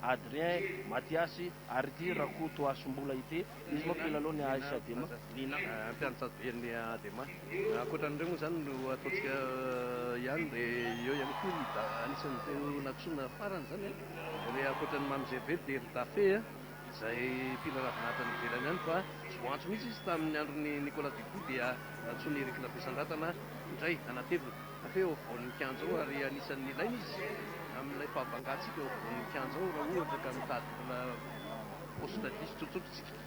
Adrien, Matiasy, ary ity Rakotoasimbola ity, izy moa mpilalao ny AS Adema, Lina. Mpiantsatobe ny Adema. Ankoatra an'ireo moa izany no ataontsika ihany dia eo ihany koa ny da, anisan'ireo nantsoina farany izany an, ankoatra an'i Mamy Gervais dia ry Dafe an, izay mpihira ravinahitra any ivelany any fa tsy voantso mihitsy izy tamin'ny andron'i Nicolas Dupuis dia nantsoin'i Eric Lafesandratana indray hanatevina. Feo voninkanzo ao ary anisan'ny ilaina izy amin'ilay fahabangantsika ho voninkanzo ao raha ohatra ka mitady mbola poste diso tsotsotra isika.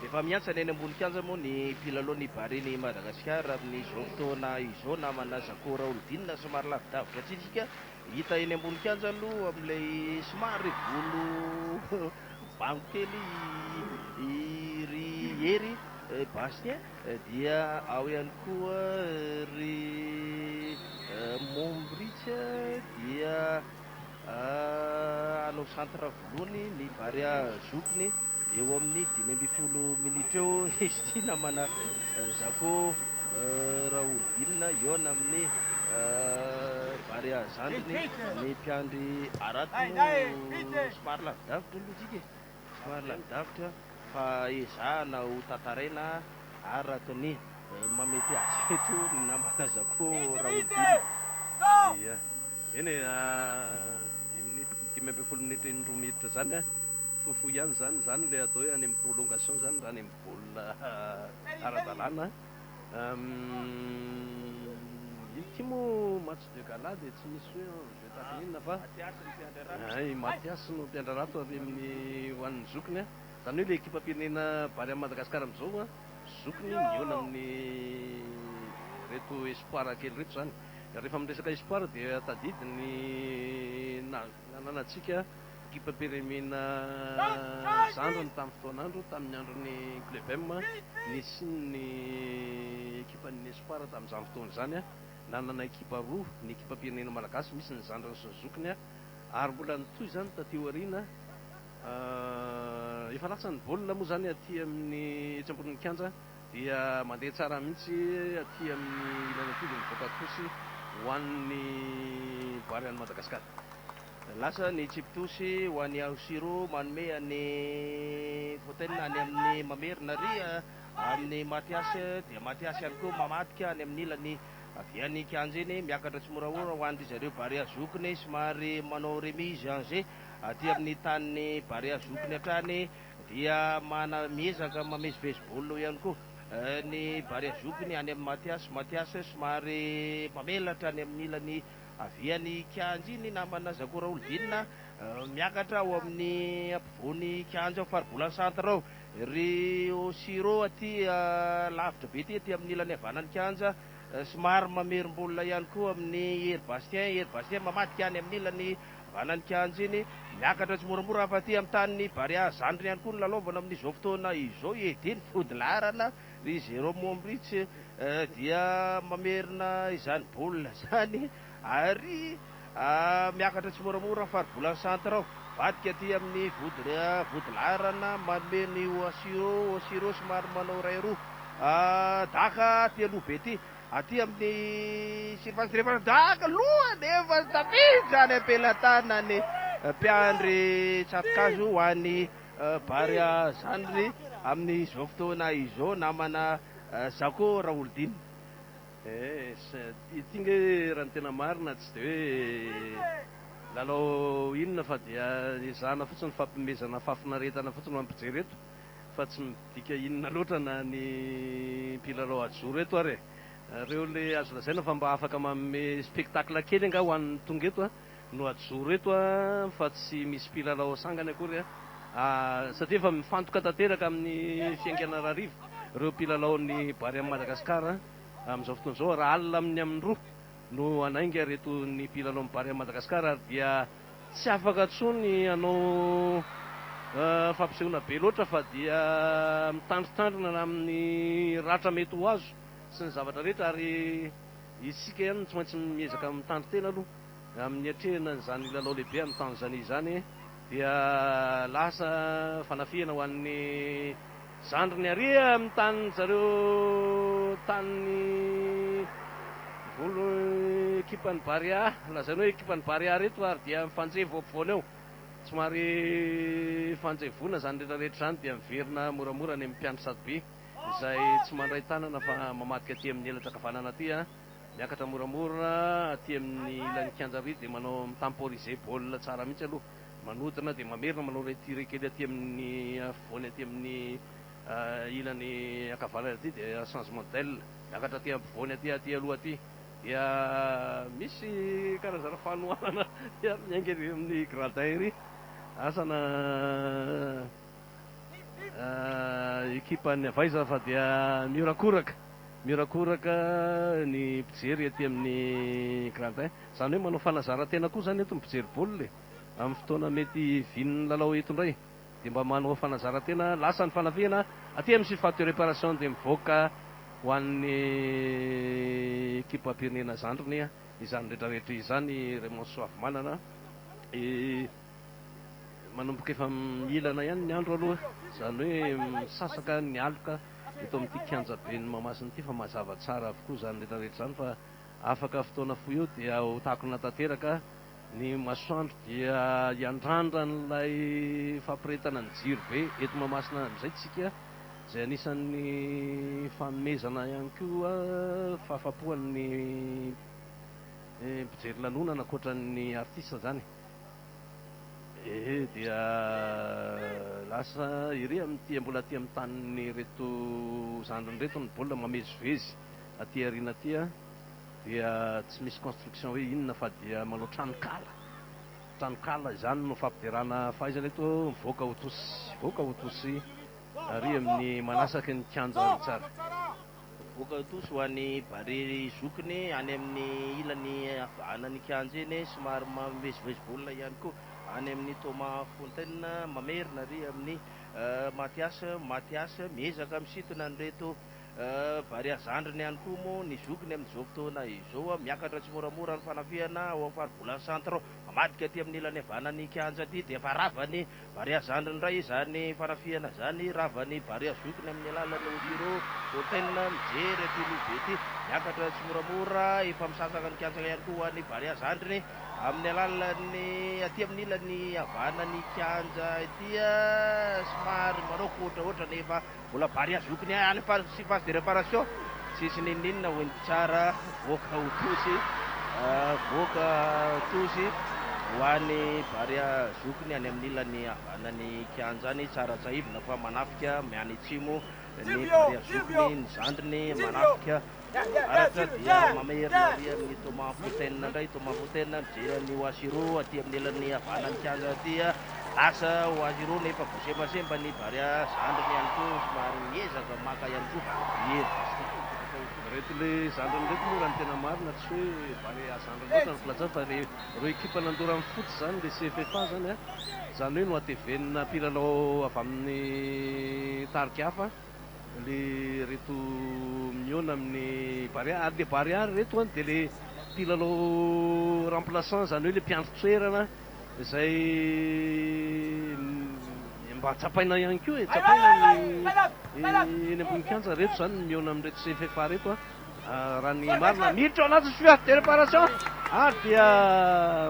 Efa mihantsana eny ambony kianja moa ny mpilalao ny Barea-n'i Madagasikara amin'izao fotoana izao namana Zako Raholdina somary lavidavitra antsika hita eny ambony kianja aloha amin'ilay somary volo bango kely i ry Hery Bastien Dia ao ihany koa ry Mombrich dia hanao centre voloany ny Barea zokiny eo amin'ny dimy ambin'ny folo minitra eo izy ity namana Zako Raholdina hihaona amin'ny Barea zandriny ny mpiandry harato somary lavidavitra ny lojika e. Somary lavidavitra fa ezahana ho tantaraina araka ny mahamety azy eto ny namana Zako Raholdina. Ia, eny e, dimy ambin'ny folo minitra eny roa minitra izany an, fohifohy ihany izany, izany ilay atao hoe any amin'ny prolongation izany raha any amin'ny baolina ara-dalàna an. Ity moa match de gala dia tsy misy hoe enjeu. Tazominina fa i Mathias no mpiandry ratsy avy amin'ny ho an'ny zokiny an! Izany hoe ilay ekipam-pirenena bary amin'i Madagasikara amin'izao an, zokiny mihaona amin'ireto espoirs kely ireto izany. Rehefa miresaka espoirs dia tadidy ny nananantsika ekipam-pirenena zandriny tamin'ny fotoan'andro, tamin'ny andron'ny Club M, nisian'ny ekipan'ny espoirs tamin'izany fotoana izany an! Nanana ekipa roa ny ekipam-pirenena malagasy, misy ny zandriny sy ny zokiny ary mbola nitohy izany taty aoriana. Efa latsany baolina moa izany aty amin'ny etsy ambonin'ny kianja dia mandeha tsara mihitsy aty amin'ny ilany ankilany mivoaka tosy ho an'ny Bary an'i Madagasikara. Lasa ny tsipy tosy ho an'i Aosiro manome an'i Fontaine any amin'ny Mamerina. Amin'ny Mathiase dia Mathiase ihany koa mamadika any amin'ny ilany avy any an-kianja iny, miakatra tsimoramora ho an-dry zareo Barea zokiny, somary manao remise en jeu aty amin'ny tanin'ny Barea zokiny hatrany, dia mana, miezaka mamezivezy baolina ihany koa ny Barea zokiny any amin'i Mathiase, Mathiase somary mamelatra any amin'ny ilany avy any an-kianja iny, namana Zako Raholdina, miakatra ao amin'ny ampovoan'ny kianja ao Faribolana centre ao. Ry Oshiro aty lavitra be ty aty amin'ny ilany havanan'ny kianja, somary mamerim-bola ihany koa amin'i Hery Bastien, Hery Bastien mamadika any amin'ny ilany havanan'ny kianja iny, miakatra tsimoramora hafa aty amin'ny tanin'i Barea, zandriny ihany koa no lalaovana amin'izao fotoana izao, i Eddy ny vodilaharana, ry Jérôme Ombrich dia mamerina izany baolina izany. Ary miakatra tsimoramora ny faribolan'ny centre ao. Mivadika aty amin'ny vodilaharana manome ny Oashiro, Oshiro somary manao iray roa daka aty aloha be aty. Aty amin'ny surface rehefa daka loha nefa tafiditra any am-pelatanan'ny mpiandry tsato-kazo ho an'i Bary Zandry amin'izao fotoana izao namana Zako Raholidina. Eeh ity nge raha ny tena marina tsy de hoe lalao inona fa dia ezahana fotsiny fampimezana fafinaretana fotsiny ho an'ny mpijery eto fa tsy midika inona loatra na ny mpilalao ajoro eto ary e! Nareo le azo lazaina fa mba afaka manome spectacle kely angaha ho an'ny tonga eto a! no hajoro eto fa tsy misy mpilalao sangany akory a! satria efa mifantoka tanteraka amin'ny fiaingan'Anararivo ireo mpilalaon'ny Bary amin'i Madagasikara amin'izao fotoana izao raha alina amin'ny amin'ny roa no hanainga ireto ny mpilalaon'ny Bary amin'i Madagasikara ary dia tsy afaka intsony hanao fampisehoana be loatra fa dia mitandritandrina amin'ny ratra mety ho azo sy ny zavatra rehetra ary Isika ihany no tsy maintsy miezaka mitandro tena aloha amin'ny hiatrehana izany lalao lehibe any Tanzanie izany dia lasa fanafihana ho an'ny zandriny ary amin'ny tanin'ny zareo tanin'ny volo ekipan'ny Barea lazaina hoe ekipan'ny Barea ary eto ary dia mifanjevo eo ampovoany eo somary fanjevoana izany rehetra rehetra izany dia miverina moramora any amin'ny mpiandry sadobe. izay tsy mandray tanana fa mamadika aty amin'ny elatra ankavanana aty an, miakatra moramora aty amin'ny ilan'ny kianja ary dia manao mi-temporiser baolina tsara mihitsy aloha, manodina dia mamerina manao ilay tire kely aty amin'ny afovoany aty amin'ny ilany ankavanana aty dia changement d'aile, miakatra aty ampovoany aty aty aloha aty dia misy karazana fanohanana miainga ery amin'ny gradin ery, asa na. ekipan'ny Avaiza fa dia mihorakoraka, mihorakoraka ny mpijery ety amin'ny gradin. Izany hoe manao fanazaran-tena koa izany eto ny mpijery baolina e! Amin'ny fotoana mety hivian'ny lalao eto indray dia mba manao fanazaran-tena, lasa ny fanafihana aty amin'ny surface de réparation dia mivoaka ho an'ny ekipam-pirenena zandriny izany rehetra rehetra izany Raymond Soavimanana. manomboka efa mihilana ihany ny andro aloha, izany hoe misasaka ny aloka eto amin'ity kianjaben'i Mahamasina ity fa mazava tsara avokoa izany rehetrarehetra izany fa afaka fotoana fohy eo dia ho takona tanteraka ny masoandro dia hiandrandra an'ilay fampirehetana ny jiro be eto Mahamasina amin'izay tsika izay anisan'ny fanomezana ihany koa fahafapoan'ny mpijery lanonana ankoatran'ny artista izany. Ehe dia lasa ery amin'ity mbola aty amin'ny tanin'ireto zandriny ireto ny baolina mamezivezy aty aoriana aty an! dia tsy misy construction hoe inona fa dia manao tranonkala, tranonkala izany no fampiderana fahaizana eto mivoaka ho tosy, mivoaka ho tosy ary amin'ny manasaky ny kianja Ritsara. Mivoaka tous ho any Barea ry zokiny any amin'ny ilany havanan'ny kianja eny somary mivezivezy baolina ihany koa any amin'ny Thomas Fontaine mamerina ary amin'ny Mathias Mathias miezaka misintona an'ireto Barea zandriny ihany koa moa ny zokiny amin'izao fotoana izao miakatra tsimoramora ny fanafihana ao amin'ny faribolana centre ao mamadika aty amin'ny ilany havanan'ny kianja aty dia efa rava ny Barea zandriny iray izany fanafihana izany, rava ny barea zokiny amin'ny alalan'ny Osiro Hotel, mijery aty Lobe aty, miakatra tsimoramora, efa misasaka ny kiantsaka ihany koa ho an'ny barea zandriny amin'ny alalan'ny aty amin'ny ilany havanan'ny kianja ity, somary manaoka ohatraohatra nefa. Mbola barea zokiny any fa tsy phase de reparation tsisy ninoninona hoy ny mpitsara voaka ho tosy voaka tosy ho any barea zokiny any amin'ny ilany havanan'ny kianja any tsara tsahivina fa manafika miany atsimo ny barea zokiny ny zandriny manafika Arakazy dia mamerina ary amin'ny Thomas Fotaine indray, Thomas Fotaine mijery an'i Wasiro aty amin'ny elan'ny havanan'ny kianja aty, lasa Wasiro nefa voasembasemba ny Barea, zandriny ihany koa somary miezaka maka ihany koa i Hery Bastille tokony atao ho tonga. Reto le zandriny reto moa raha ny tena marina, tsy hoe Barea zandriny loatra ny filazana fa le reo ekipa nandoro an'i foot zany le CFFA zany an, zany hoe nohatevenina mpilalao avy amin'ny tarika hafa. le reto mihaona amin'ny Barea ary le Barea ry reto an dia le mpilalao remplaçant izany hoe le mpiandry toerana izay mba tsapaina ihany koa e, tsapaina ny eny ambony kianja reto izany ny mihaona amin'ireto cffa reto an raha ny marina miditra ao anaty surface de réparation ary dia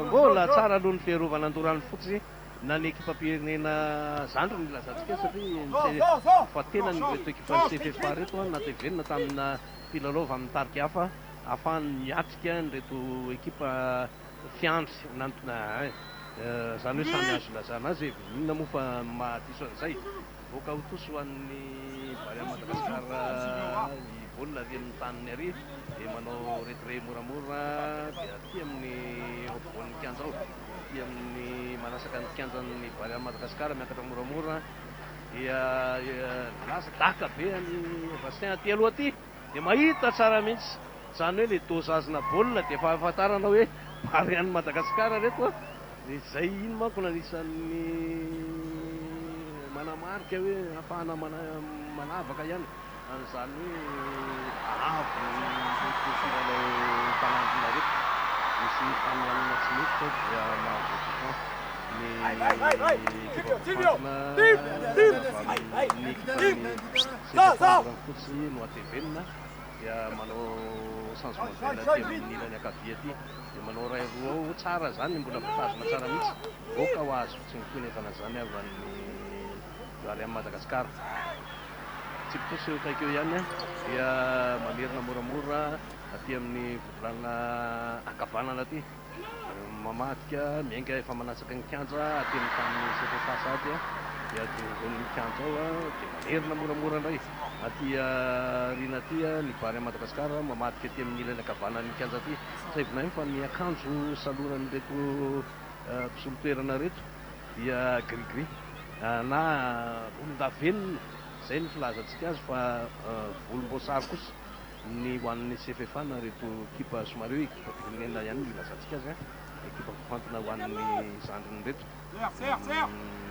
mbola tsara aloha ny fiarovana an-doran'ny fotsy. na ny ekipam-pirenena zandriny ny ilazantsika azy satria ny fa tena ny ireto ekipan'ny CFFA ireto no natevenina tamina mpilalao avy amin'ny tarika hafa ahafahany miatrika an'ireto ekipa fiandry nantina izany hoe samy azo ilazana azy e! inona moa fa mahadiso an'izay? Voaka ho tosy ho an'ny vary an'i Madagasikara ny baolina ary amin'ny taniny àry dia manao retrait moramora dia aty amin'ny ampovoan'ny kianja ao, aty amin'ny manasaka ny kianjan'ny vary an'i Madagasikara miakatra moramora dia lasa daka be an'i Vastin aty aloha aty. dia mahita tsara mihitsy izany hoe ilay dosage-na baolina dia efa ahafantarana hoe Barea an'i Madagasikara ireto an! dia izay iny manko no anisan'ny manamarika hoe ahafahana manavaka ihany an'izany hoe avo ilay fifidianana Tanandronareto misy fanohanana tsy mety izao dia mahavoa toupon ny ekipa mpitantana avy amin'ny ekipan'i Sefo Andriampotoana. Tsy ny nohatevenina dia manao changement tena aty amin'ny ilany ankavia aty dia manao iray roa ao, tsara izany mbola voatazona tsara mihitsy, goka ho azo tsy mikonevana izany avy any ary any Madagascar. Tsipitosa eo akaiky eo ihany dia mamerina moramora aty amin'ny vodilanona ankavanana aty. Mamadika, miainga efa manatsaka ny kianja aty amin'ny tanin'ny Setra Sasady dia eo ampovoan'ny kianja ao dia manerina moramora indray aty aoriana aty ny Barea Madagascar mamadika aty amin'ny ilany ankavanan'ny kianja aty. Tsaivina ihany fa ny akanjo saloran'ireto mpisolo toerana ireto dia gris gris na volondavenona izay ny filazantsika azy fa volomboasary kosa. ny ho an'ny CFFA na ireto ekipa somary hoe ekipa firenena ihany no ilazantsika azy an, ekipa voafantina ho an'ny zandriny ireto.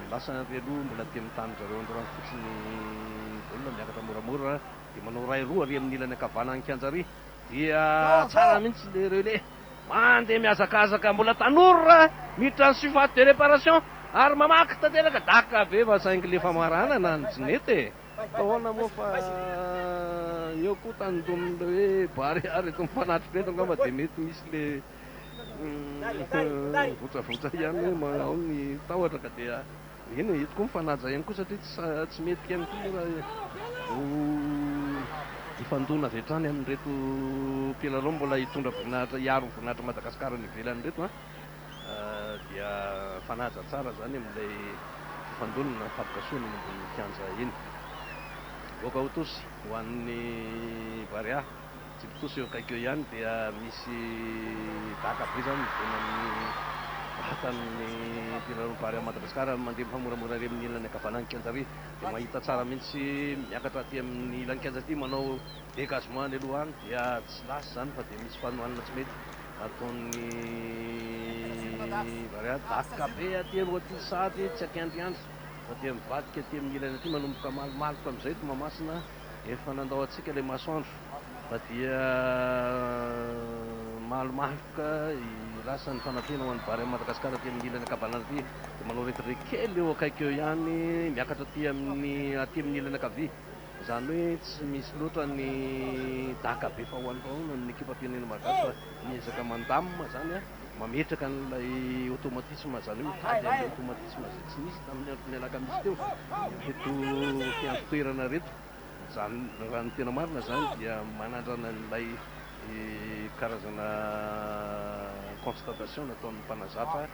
Lasa ary aloha mbola aty amin'ny tanin-dry zareo Andorra Fotsy ny baolina, miakatra moramora dia manao iray roa ary amin'ny ilany ankavanan'ny kianja ary dia tsara mihitsy ilay relais, mandeha mihazakazaka mbola tanora miditra ny surface de réparation ary mamaky tanteraka, daka be fa saingy ilay famaranana no tsy nety e! Ahoana moa fa ny eo koa tany ndomin'le hoe barea reto mpanatri reto angamba dia mety misy le votsavotsa ihany hoe ma ao ny tahotra ka dia eny e, eto koa mifanaja ihany koa satria tsy tsy mety ihany koa moa raha ho hifandona avy hatrany amin'ireto mpilalao mbola hitondra voninahitra hiaro ny voninahitr'i Madagasikara any ivelany ireto an! dia fanaja tsara zany amin'ilay fifandonana fampikasohana eny ambonin'ny kianja eny. Goaka ho tosy ho an'ny Barea, Tsibitosy eo akaiky eo ihany dia misy daka be zany midona amin'ny vatan'ny mpiraro Barea Madagascar mandeha mifamoramora ary amin'ny ilany ankavanan'ny kianja ary dia mahita tsara mihitsy miakatra aty amin'ny ilany kianja aty manao Dégagement any aloha any dia tsy lasa izany fa dia misy fanohanana tsy mety ataon'ny variady vakoka be aty aloha aty sady tsy ankiandriandry fa dia mivadika aty amin'ny ilany aty manomboka malomaloka amin'izay Tomamasina efa nandao antsika ilay masoandro fa dia malomaloka lasa ny fanampiana ho an'ny vary amin'i Madagasikara aty amin'ny ilany ankavanana aty dia manao retirety kely eo akaiky eo ihany miakatra aty amin'ny aty amin'ny ilany ankavia Izany hoe tsy misy loatra ny daka be faoanofaoana amin'ny ekipam-pirenena malagasy fa miezaka mandamina izany, mametraka an'ilay automatisme, izany hoe mitady an'ilay automatisme izay tsy nisy tamin'ny andron'ny alakamisy teo ireto mpiandry toerana ireto. Izany, raha ny tena marina izany dia manandrana an'ilay karazana constatation nataon'ny mpanazatra.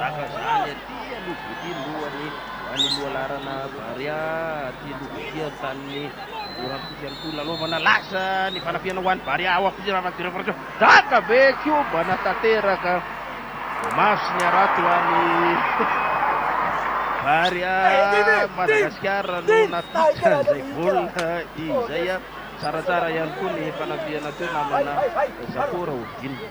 Tahaka zany aty aloha voty lohany any Moalarana Barea aty aloha voty any tanin'ny Orampiso ihany koa nanaovana lasa ny fanafihana ho any Barea ao Ampisiry Ravatomira Faritra Daka be kiobana tanteraka maso ny harato any Barea Madagasikara no natitra izay baolina izay tsaratsara ihany koa ny fanafihana teo namana Zakora Ovina.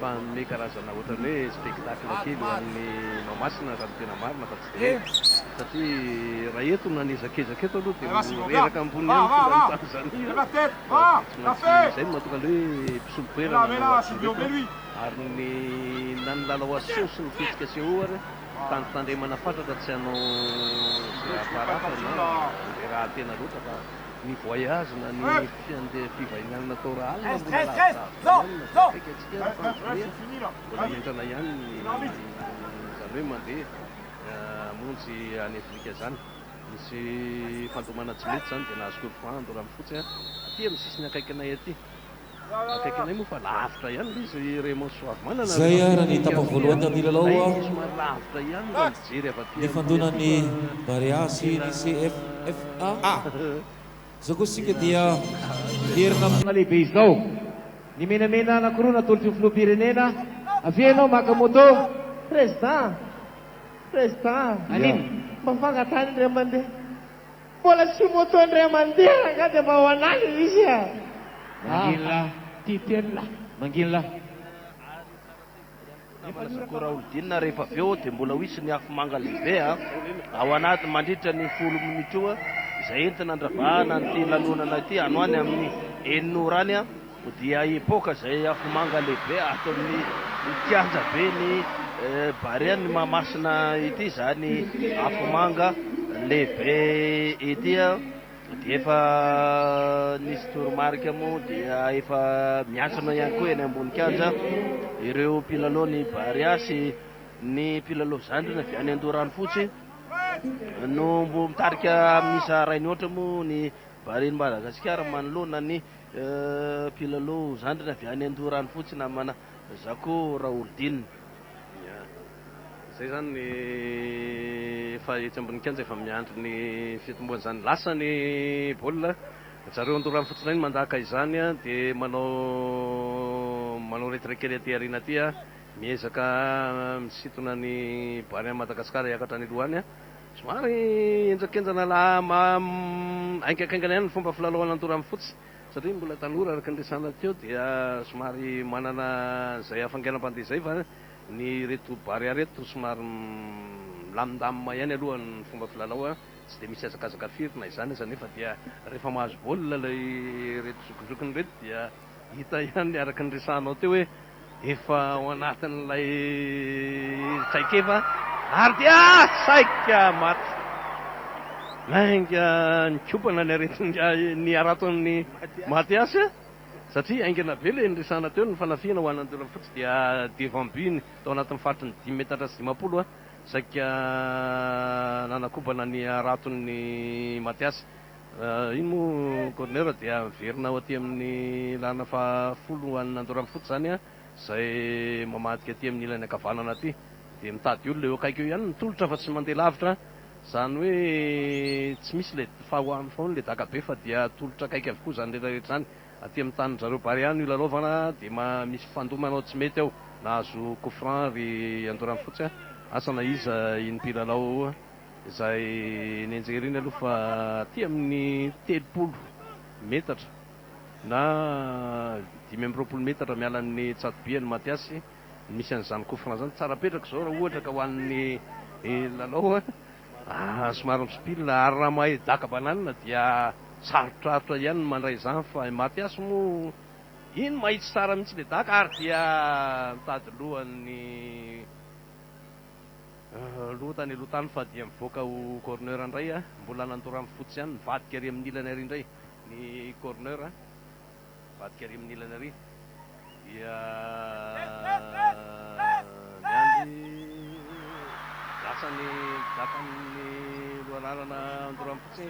fa hanome karazana ohatran'ny hoe spectacle kely ho an'ny Mahamasina raha ny tena marina fa tsy dia hoe satria raha eto na ny ezakezaka eto aloha dia ho reraka ambony ihany ny filan'ny Tanzania fa dia tsy maintsy izay no mahatonga an'ilay hoe mpisolo-toerana no hatreto ary ny na ny lalao aseho sy ny fihetsika aseho ary tandrotandremana fatratra tsy hanao izay hahafaha raha fa na handeha rahatena loatra fa ny voyage na ny fiande fivahinianana tao Rahalina mbola lavitra avo daholo na tsy akaiky antsika ary fa ny fivoriana mbola henjana ihany ny izany hoe mandeha hamonjy any Afrika izany misy fandomana tsy mety izany dia nahazo korokohando raha mifotsy aty amin'ny sisiny akaikinay aty Izay ary ny etapa voalohany tamin'ny lalao nifandonan'ny Barea sy ny CFFA. Izao kosa isika dia miverina amin'ny. Lehibe izao. Ny menamena anankiroa natolotry ny Filoham-pirenena, avia ianao maka moto. Président! Président! Anino? Mba fangatahana indray mandeha. Mbola tsy moto indray mandeha rangah dia mba ho anah le izy a! Manginy lah! Titeny lah! Manginy lah! Fitaovana sy akora olodinina rehefa avy eo dia mbola ho hisy ny afomanga lehibe ao anaty mandritra ny folo minitra io izay entina andravahana an'ity lanonana ity ano any amin'ny enina ora any. Dia hipoka izay afomanga lehibe ato amin'ny kianjaben'i Barea ny Mahamasina ity izany afomanga lehibe ity. Dia efa nisy toromarika moa dia efa miantsona ihany koa eny ambony kianja ireo mpilalaon'i Barea sy ny mpilalao zandriny avy any Andoharanofotsy no mitarika amin'ny isa iray mihoatra moa ny Barean'i Madagasikara manoloana ny Mpilalao zandriny avy any Andoharanofotsy namana Zako Raholdine. Ya. Izay izany ny efa etsy ambony kianja efa miandry ny fitomboan'izany. Lasa ny baolina. Ry zareo Andoharanofotsy indray no mandaka izany dia manao manao retrait kely aty aoriana aty. Miezaka misintona ny barea an'i Madagasikara hiakatra any aloha any. Somary henjakenjana la haingakaingana ihany ny fomba filalaovana ny Torano Fotsy satria mbola tanora araka ny resahana teo dia somary manana izay hafainganam-pandeha izay fa ny ireto Barea ireto somary milamindamina ihany aloha ny fomba filalao tsy dia misy hazakazaka firy na izany aza nefa dia rehefa mahazo baolina ilay ireto zokizokiny ireto dia Hita ihany araka ny resahanao teo hoe efa ao anatin'ilay traikefa ary dia saika maty lainga nikopana ny aretin'ingahy ny haraton'i Mathias satria haingana be ilay niresahana teo, ny fanafihana ho an'Anjolafotsy dia devant but-ny tao anatin'ny faritry ny dimy metatra sy dimampolo saika nanakobana ny haraton'i Mathias Raha iny moa Corner dia averina ao aty amin'ny lalana faha folo ho an'ny Andoramfotsy izany an, izay mamadika aty amin'ny ilany ankavanana aty dia mitady olona eo akaiky eo ihany ny tolotra fa tsy mandeha lavitra izany hoe tsy misy ilay fahaoa ilay dakabe fa dia tolotra akaiky avokoa izany rehetra rehetra izany aty amin'ny tanin-dRareo Bary ihany io lalaovana dia ma misy fandoa manao tsy mety ao nahazo coup franc ry Andoramfotsy an, asa na iza iny mpilalao Izay nenjeriny aloha fa aty amin'ny telopolo metatra na dimy amby roapolo metatra miala an'ny Tsatoby ny Matiasy no misy an'izany coup franc izany. Tsara apetraka izao raha ohatra ka ho an'ny lalao an! Somary misopila ary raha mahay daka banane dia sarotrarotra ihany ny mandray izany fa i Matiasy moa iny mahitsy tsara mihitsy ilay daka ary dia mitady loha ny. Loha tany aloha tany fa dia mivoaka ho corner indray a! Mbola nandoro amin'ny fotsy ihany, nivadika ary amin'ny ilany ary indray ny corner a! Nivadika ary amin'ny ilany ary dia miandry lasa ny dakan'ny loharanana nandoro amin'ny fotsy,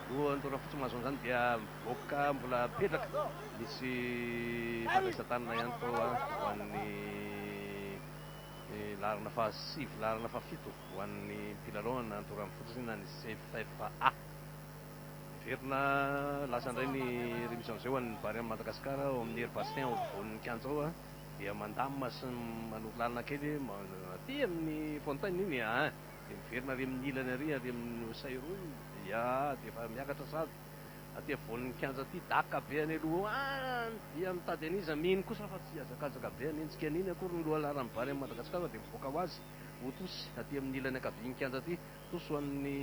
loha nandoro amin'ny fotsy mahazo an'izany dia mivoaka mbola mipetraka, misy fandraisan-tanana ihany koa ho an'ny. Ny laharana fahasivy, laharana fahafito ho an'ny mpilalao any anaty ora mifototra iny na ny CFFA. Miverina lasa indray ny remise en jeu ho an'ny Barea an'i Madagascar ao amin'ny Air Bastien ao afovoan'ny kianja ao dia mandamina sy manoro lalana kely aty amin'ny fontaine iny dia miverina ary amin'ny ilany ary ary amin'ny sairony dia dia efa miakatra sahady. Aty avoan'ny kianja aty daka be any aloha any dia mitady an'iza mino kosa fa tsy hazakazaka be hanenjika an'iny akory ny lohalaharan'ny vary any Madagasikara dia mivoaka ho azy ho tosy aty amin'ny ilany ankavian'ny kianja aty tosy ho an'ny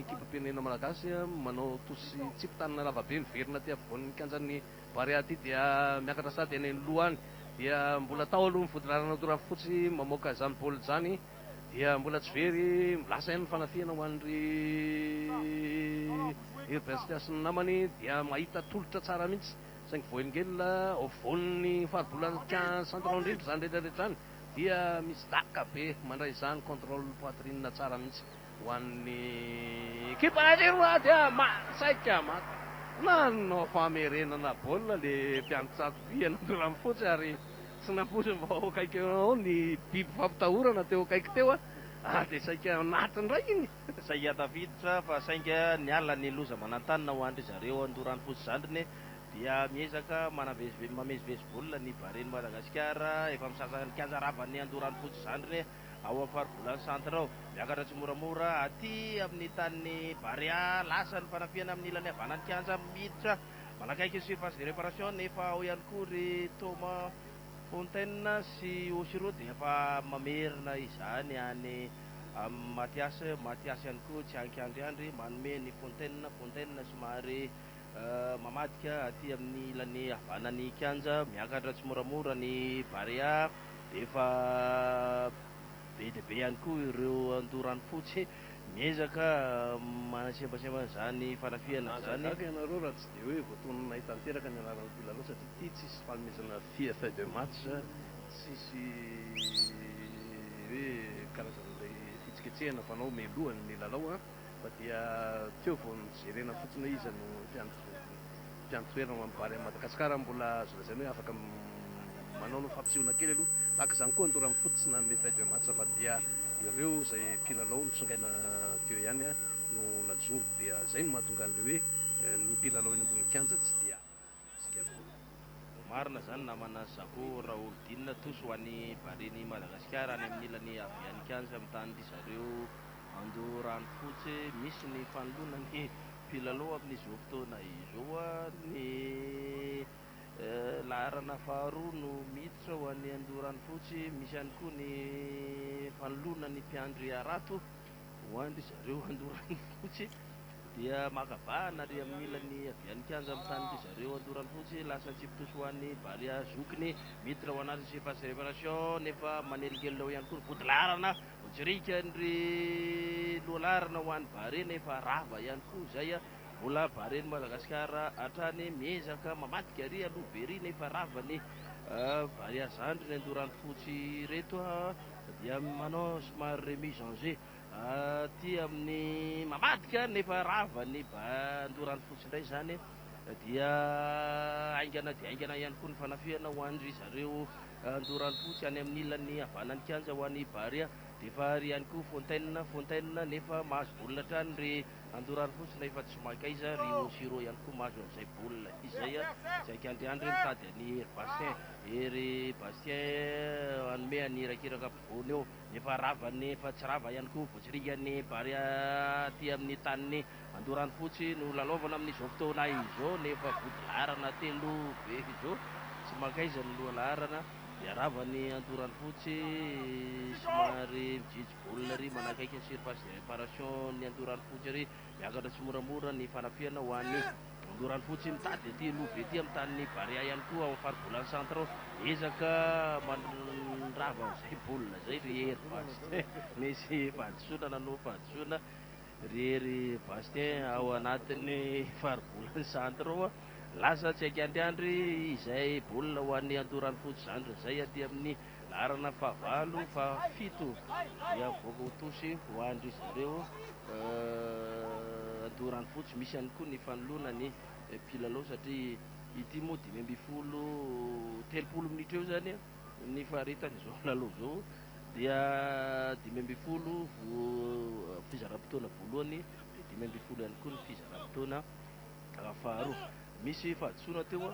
ekipam-pirenena malagasy manao tosy tsipy tanana lava be miverina aty avoan'ny kianjan'ny Barea aty dia miakatra sady any aloha any dia mbola tao aloha ny vodilaharana Doravy fotsy mamoaka izany baolina izany Dia mbola tsy very lasa ihany ny fanafihana ho an'i ry Urbainster sy ny namany dia mahita tolotra tsara mihitsy saingy voahelingelina ao afovoan'ny faribolan'Ika Centre ao indrindra izany rehetrarehetra izany dia misy daka be mandray izany contrôle poitrine tsara mihitsy. Ho an'ny ekipa Algerois dia saika maka nanao famerenana baolina ilay mpiandry tsatoby eny an-toeran'ny fotsy ary tsy nampoiziny fa ho akaiky eo ao ny biby fampitahorana teo akaiky teo ary dia saika naty indray iny. Saika tafiditra fa sainga niala ny loza manantanina ho an-dry zareo an-toeran'ny fotsy zandriny dia miezaka manavezive mamezivezy baolina ny Bahrain Madagasikara efa misasa ny kianja ravan'ny an-toeran'ny fotsy zandriny. ao amin'ny faribolana centre ao. Miakatra tsimoramora aty amin'ny tanin'i Barea lasa ny fanafihana amin'ny ilany havanan'ny kianja miditra manakaiky ny surface de réparation nefa ao ihany koa ry Thomas Fontaine sy Oshiro dia efa mamerina izany any amin'i Mathias, Mathias ihany koa tsy an-kiandriandry manome ny Fontaine, Fontaine somary Mamadika aty amin'ny ilany havanan'ny kianja, miakatra tsimoramora ny Barea, efa be dia be ihany koa ireo andoha ranofotsy miezaka manasembasemba an'izany fanafihana izany. Mahagaga ianareo raha tsy dia hoe voatoninay tanteraka ny anaran'ny mpilalao satria ity tsisy fanomezana fiche feuille de match, tsisy hoe karazan'ilay fihetsiketsehana fanao mialohan'ny milalao. fa dia teo vao nojerena fotsiny hoe iza no mpiantoherina ho an'ny Barea an'i Madagasikara ary mbola azo lazaina hoe afaka manao ny fampisehoana kely aloha. Tahaka izany koa ny Dora Mifoto tsy nanome faible match fa dia ireo izay mpilalao nitsongaina teo ihany no najoro dia izay no mahatonga an'ilay hoe ny mpilalao eny ambony kianja tsy dia Marina zany namana Zako Raholdina tous ho any Bareny Madagasikara any amin'ny ilany Avianikanja amin'ny tany ndry zareo Andoranofotsy misy ny fanoloana ny mpilalao amin'izao fotoana izao ny laharana faharoa no miditra ho any Andoranofotsy misy ihany koa ny fanoloana ny mpiandry harato Ho an-dry zareo Andoranofotsy dia maka vahana ary amin'ny ilany havia ny kianja amin'ny tanin-dry zareo Andoranofotsy lasa an-tsipitosy ho an'ny Barea zokiny miditra ao anatin'ny surface reparation nefa manelingelina ao ihany koa ny vodilaharana Jirikan'ny lohalaharana ho an'ny Barea nefa rava ihany koa izay mbola Barean'i Madagasikara hatrany miezaka mamadika ary aloha be ery nefa rava ny Barea zandriny Andoranofotsy ireto dia manao somary remise en jeu aty amin'ny mamadika nefa rava ny bandorany fotsy indray izany dia haingana dia haingana ihany koa ny fanafihana ho an-dry zareo andorany fotsy any amin'ny ilany havanan'ny kianja ho any Barea dia efa ary ihany koa fontaine fontaine nefa mahazo baolina hatrany ry Andoro ary fosina efa tsy mankaiza ry Osy ireo ihany koa mahazo an'izay boul izay a! Tsy haika Andriandry mitady an'i Hery Bastien, Hery Bastien hanome an'i Irakiraka ampovoany eo nefa ravany efa tsy rava ihany koa voatsiringan'ny Barea aty amin'ny tanin'i Andoro any fotsy no lalaovana amin'izao fotoana izao nefa vodilaharana telo be izao tsy mankaiza ny lohalaharana iaravan'i Andoro any fotsy somary mijijy Olona ery manakaiky ny surface de réparation ny Andoharanofotsy ery, miakatra tsimoramora ny fanafihana ho an'ny Andoharanofotsy, mitady aty aloha be aty amin'ny tanin'ny Barea ihany koa ao amin'ny faribolana centre ao, ezaka mandrava an'izay baolina izay ry Hery Bastien, misy fahadisoana nanohy fahadisoana ry Hery Bastien ao anatin'ny faribolana centre ao, lasa tsy haika anty andry izay baolina ho an'ny Andoharanofotsy zandriny izay aty amin'ny. Laharana fahavalo, fahafito dia mivoaka ho tosy ho an-dry zareo Andoharanofotsy. Misy ihany koa ny fanoloana ny mpilalao satria ity moa dimy ambin'ny folo, telopolo minitra eo izany ny faharetan'izao lalao izao dia dimy ambin'ny folo fizaram-potoana voalohany dia dimy ambin'ny folo ihany koa ny fizaram-potoana Faharo. Misy fahadisoana teo a.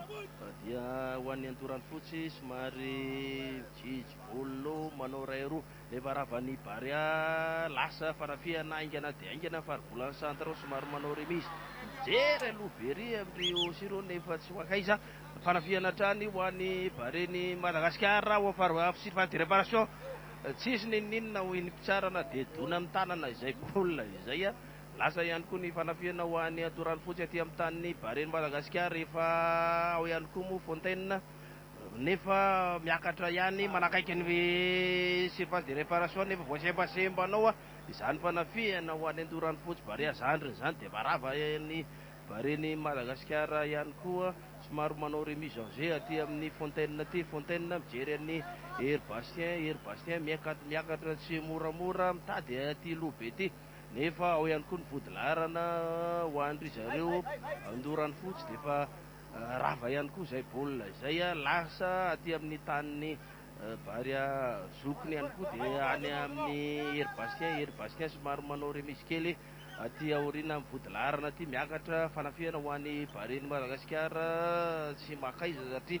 Dia ho an'ny antorany fotsy somary mijijy bolo manao iray roa. Nefa ravan'ny Barea lasa fanafihana haingana dia haingana ny faribolan'ny Centre somary manao remise. Mijery aloha be ery amin'ireo aussi ireo nefa tsy ho ankaiza. Fanafihana hatrany ho an'ny Baren'i Madagasikara ao amin'ny phase de réparation. Tsisy n'inon'inona hoy ny mpitsara na dia dona amin'ny tanana izay baolina izay a. Lasa ihany koa ny fanafihana ho an'ny atorany fotsy aty amin'ny tanin'ny Baren'i Madagasikara efa ao ihany koa moa Fontaine nefa miakatra ihany manakaiky ny surface de reparation nefa voasembasemba anao izany fanafihana ho an'ny atorany fotsy Barea zandriny izany dia marava ny Baren'i Madagasikara ihany koa somary manao remise en jeu aty amin'ny Fontaine aty Fontaine mijery an'i Hery Bastien Hery Bastien miakatra tsy moramora mitady aty Lobe aty. nefa ao ihany koa ny vodilaharana ho an-dry zareo Andoranfotsy dia efa rava ihany koa izay baolina izay, lasa aty amin'ny tanin'ny Barea zokiny ihany koa dia any amin'ny Hery Bastien, Hery Bastien somary manao remise kely aty aoriana amin'ny vodilaharana aty, miakatra fanafihana ho an'i Barean'i Madagasikara tsy maka aiza satria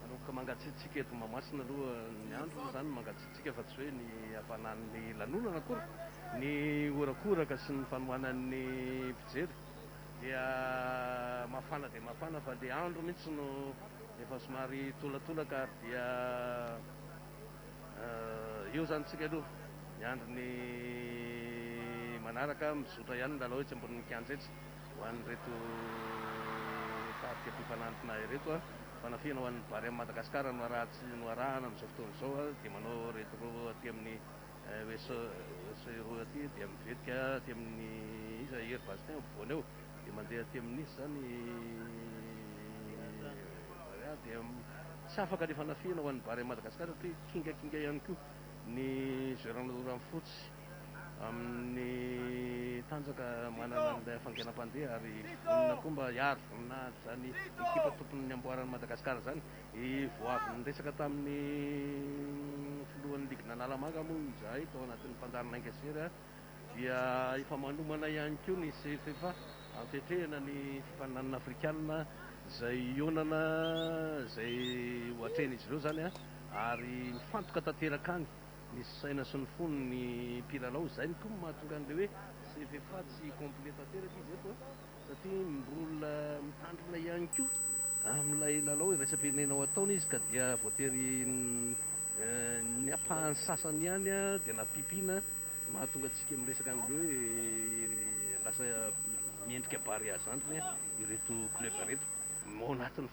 Manomboka mangatsiatsiaka eto Mahamasina aloha ny andro, izany ny mangatsiatsiaka fa tsy hoe ny hampanan'ny lanonana akory. Ny horakoraka sy ny fanohanan'ny mpijery dia mafana dia mafana fa ilay andro mihitsy no efa somary tolatolaka ary dia eo izany isika aloha miandry ny manaraka, mizotra ihany ny lalao etsy ambonin'ny kianja etsy. Ho an'ireto tarika mpipa nantina ireto, fanafihana ho an'ny Barème Madagascar no araha-tsy noarahana amin'izao fotoana izao dia manao ireto roa aty amin'ny USA roa aty dia mivetika aty amin'ny iza Hery Bastin eo ampovoany eo dia mandeha aty amin'ny iza izany Barea dia tsy afaka ny fanafihana ho an'ny Barème Madagascar satria kingakinga ihany koa ny Jeu Ranonoranofotsy. amin'ny tanjaka manana an'ilay hafainganam-pandeha ary inona koa mba hiaro voninahitran'ny ekipa tompon'ny niamboaran'i Madagasikara izany? Vao avy niresaka tamin'ny filohan'ny ligin'Analamanga moa izahay tao anatin'ny fandarin'ainga sy hery dia efa manomana ihany koa ny CFFA hampiatrehana ny fifaninanana afrikanina izay hihaonana izay ho atrehin'izy ireo izany ary mifantoka tanteraka any Misy saina sy ny fony ny mpilalao izay no koa mahatonga an'ilay hoe CV fa tsy complet tanteraka izy eto a! satria mbola mitandrina ihany koa amin'ilay lalao iraisam-pirenena ao ataony izy ka dia voatery ny ampahany sasany ihany dia nampipiana mahatonga antsika miresaka an'ilay hoe lasa miendrika barea zandriny ireto club ireto. Ao anatin'ny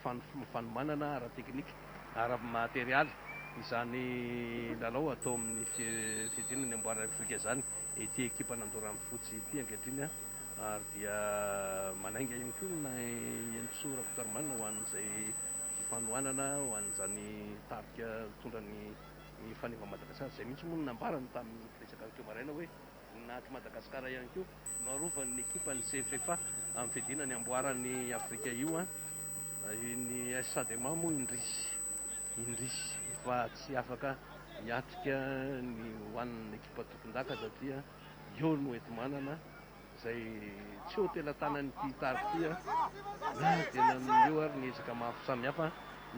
fanomanana ara-teknika, ara-materialy izany lalao atao amin'ny fiadiana ny amboara Afrika izany ity ekipa Nandoran'ny Fotsy ity ankehitriny ary dia manainga ihany koa ny Henintsoa Rakotoarimanana ho an'izay fanohanana ho an'izany tarika mitondra ny fanimba Madagasikara izay mihitsy moa no nambarany tamin'ny betsaka teo maraina hoe Voninahitry Madagasikara ihany koa no arovan'ny ekipan'ny CFFA amin'ny fiadiana ny amboaran'i Afrika io. Ny AS Adema moa indrisy indrisy fa tsy afaka hiatrika ny ho an'ny ekipa tompondaka satria eo no enti-manana izay tsy ho tela-tanan'ity tarika ity na dia nanome eo ary ny ezaka maro samihafa.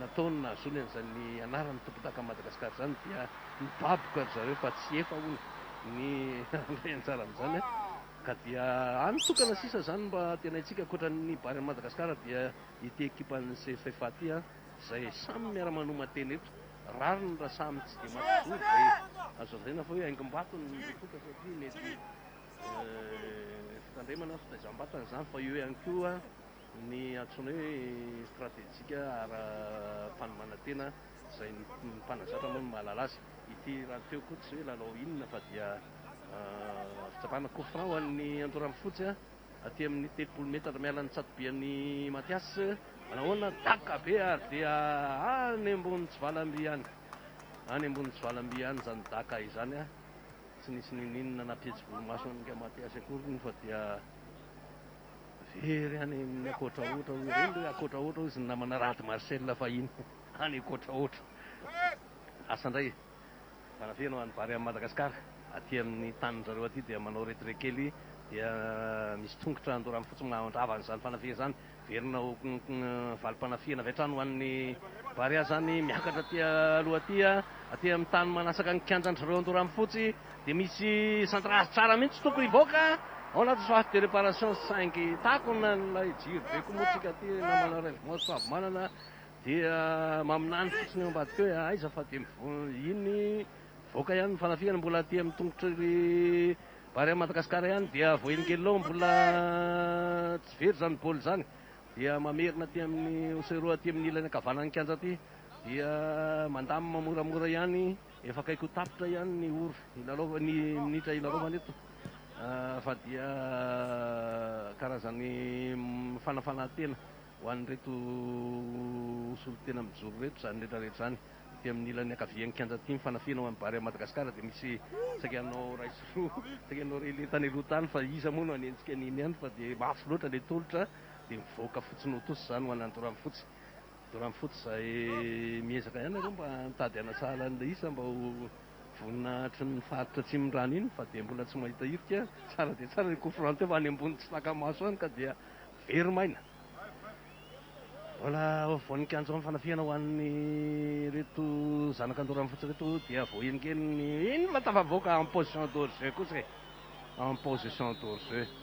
Nataony nahazoany an'izany anaran'ny tompondaka Madagascar izany dia nibaboka ry zareo fa tsy efa hono ny handray anjara amin'izany ka dia any tokana sisa izany mba antenaintsika ankoatran'ny Bary an'i Madagascar dia ity ekipan'ny CFFA ity izay samy miara-manoma tena eto rariny raha samy tsy dia maka zoro izay azo lazaina fa hoe haingom-bato ny betroka satria mety fitandremana fitaizam-batana izany fa eo ihany koa Ny antsoina hoe stratejika ara-panomanantena izay ny mpanazatra moa no mahalala azy. Ity rahateo koa tsy hoe lalao inona fa dia fitsapana coup franc ho an'ny Andoranofotsy aty amin'ny telopolo metatra miala ny tsatobian'i Mathias. Manahoana? Daka be ary dia any ambony tsivalamby any. Any ambony tsivalamby any izany daka izany. Tsy nisy ninoninona na mpihetsi-volomaso an'i Mathias akory moa fa dia Very any amin'ny Akotrahotra hoy ireny hoe Akotrahotra hoy izy ny namana Rad Marcel fahiny any Akotrahotra. Asa indray manafeno any Barea amin'i Madagasikara. Aty amin'ny tanin-dry zareo aty dia manao retrait kely dia misy tongotra andorany fotsy mandrava an'izany fanafihana izany. Verina ho valim-panafihana avy hatrany ho an'ny Barea izany miakatra aty aloha aty. Aty amin'ny tany manasaka ny kianjan-dry zareo andorany fotsy Dia misy centre art tsara mihitsy tokony hivoaka ao anaty soif de reparation saingy takona ilay jiro be koa moa tsika aty namana rêve moi Soavimanana dia maminany fotsiny eo ambadika eo eh aiza fa dia iny mivoaka ihany ny fanafihana mbola aty amin'ny tongotry ry Barea Madagascar ihany dia voahelingelina ao mbola tsy very izany bol izany dia mamerina aty amin'ny oseroa aty amin'ny ilany ankavanan'ny kianja aty dia mandamina moramora ihany Efa akaiky ho tapitra ihany ny ora hilalaovana, ny minitra hilalaovana eto fa dia karazan'ny fanafanahan-tena ho an'ireto solontena mijoro ireto izany rehetra rehetra izany. Ety amin'ny ilany ankavian'ny kianja ity mifanafina ho an'ny Barea Madagascar dia misy saika hanao iray sy roa, saika hanao relais tany aloha tany fa iza moa no hanenjika an'iny ihany fa dia mafy loatra ilay tolotra dia mivoaka fotsiny ho tosa izany ho an'ny Andoranfotsy. Dorama foot izay miezaka ihany nareo mba mitady hanasahala an'ilay isa mba ho vonona hatry ny faritra atsimon'ny rano iny fa dia mbola tsy mahita hirika, tsara dia tsara ilay coup franc teo fa any ambony tsy taka-maso any ka dia very maina. Mbola ao afovoan'ny kianja ao ny fanafihana ho an'ireto zanaka Dorama foot ireto dia voahelinkeliny, inona tafavoaka en position d'hors-jeu kosa e! en position d'hors-jeu.